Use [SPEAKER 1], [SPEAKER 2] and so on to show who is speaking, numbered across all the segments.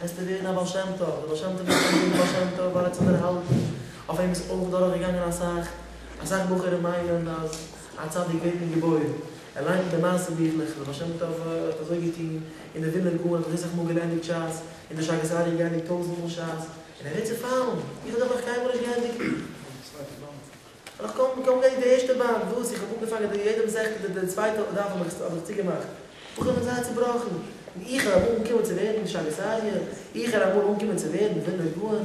[SPEAKER 1] וועסטו ווערן א בעל שם טוב, דער בעל שם טוב וועט זיך אנרופן בעל שם טוב ווייל ער האט זיך דערהאלטן, אויף אים איז אויך דורכגעגאנגען אסאך, אסאך בחורים מיינען אז א צדיק ווערט נישט געבוירן, ער ליינט די מעשה ביכלעך, דער בעל שם טוב האט אזוי געטון, אין די ווילנער גאון האט ער זיסעך מאל געלייענדיג שס, אין די שאגת אריה געלייענדיג טויזענט מאל שס, און ער ווערט צופאלן, איך האב דאך נאך קיינמאל נישט געענדיגט. איך קען קוים רעדן די ערשטע באנד וואס איך האב אנגעפאנגען די יעדעם זעכטע די די צווייטע אויפדארף האב איך האב איך צוגעמאכט איך בין זייער צובראכן און איך ארום אנגעקומען צו ווערן שליט א איך ארום אמאל אנגעקומען צו ווערן ווילנער גאון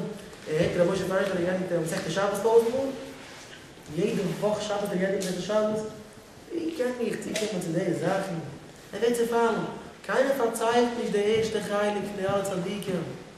[SPEAKER 1] ער הערט רבי משה פייכער לערנט דעם מסכת שבת טויזנט מאל יעדע וואך שבת ער גייט די מסכת שבת ווי קען איך צוקומען צו די זאכן ער ווערט צופאלן קיינער פארציילט נישט די ערשטע חלק פון די אלע צדיקים.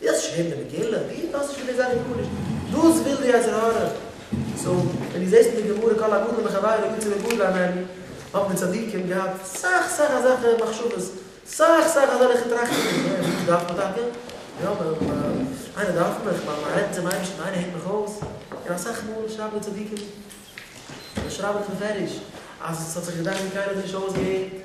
[SPEAKER 1] ווי האסטו שוין געהערט די מגילה? ווי האסטו שוין געזען די גמרות? דאס וויל די יצר הרע זאגן, ווען דו זעסט אין די גמרא כל הגדול מחברו יוצא מגדרו אנעני, האבן די צדיקים געהאט סאך סאך אזעלכע מחשבות, סאך סאך אזעלכע טראכטונגען, יא, וואס דארף מען טאקע? יא, איינער דארף מיך, מען מען רעדט צום אייבערשטן, איינער הערט מיך אויס, און אסאך מאל שרייבן די צדיקים, זיי שרייבן דאך מפרש אז עס האט זיך געדאכט ווי קיינער האט נישט אויסגעהערט.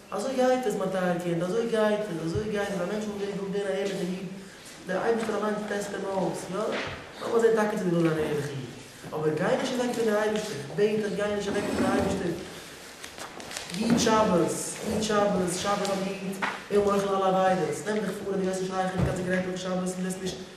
[SPEAKER 1] אזוי גייט עס מיין טייער קינד, אזוי גייט עס, אזוי גייט עס, א מענטש וואס ווערט געבוירן א ערליכער איד, דער אייבערשטער אליינס טעסט אים אויס, יא, לאמיר זען טאקע צו דו ווילסט זיין א ערליכער איד, אבער גיי נישט אוועק פון דער אייבערשטער, בעט דיך גיי נישט אוועק פון דער אייבערשטער, היט שבת, היט שבת, שבת האט געהיט, און מוחל על עבירות, נעם דיך פאר אז דו וועסט נישט הייכערן קיין סיגרעטל אויף שבת און וועסט נישט.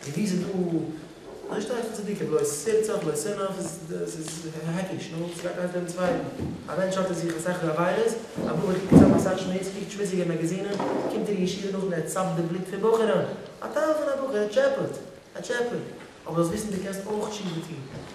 [SPEAKER 1] און ווי ס'איז דא נישט אייך צדיקה בלויז סער צד לא סער נאר ס'איז העקיש נו וואס גייט אייך דעם צווייטן א מענטש שאפט ער זיך אסאך עבירות א בחור קוקט צוזאם אסאך שמוץ קוקט שמוציגע מעגעזינען קומט אין ישיבה נאכדעם ער צאפט די בלוט פון בחורים א טייל פון א בחור ער טשעפעט ער טשעפעט אבער זאלסט וויסן דו קענסט אויך תשובה טון.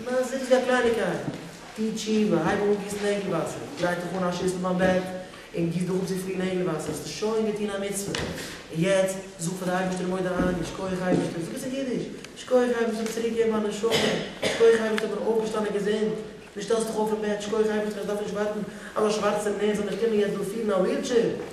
[SPEAKER 1] למעשה איז דאס א קלייניגקייט. טו תשובה, הייב אן גיסן נעגל וואסער, דריי דיך אן א שיסל ביים בעט, און גיס דיך אפ צופיל נעגל וואסער, האסטו שוין געטון א מצוה. און יעצט, זאג פאר די אייבערשטער מודה אני, שכוח אייבערשטער, זאג עס אין אידיש, שכוח אייבערשטער ביסט צוריק געבן מיין נשמה, שכוח אייבערשטער איך בין אויפגעשטאנען געזונט, דו שטעלסט דיך אויף אין בעט, שכוח אייבערשטער איך דארף נישט ווארטן אז א שווארצער נער זאל מיך קומען יעצט דא פירן א ווילטשעיר,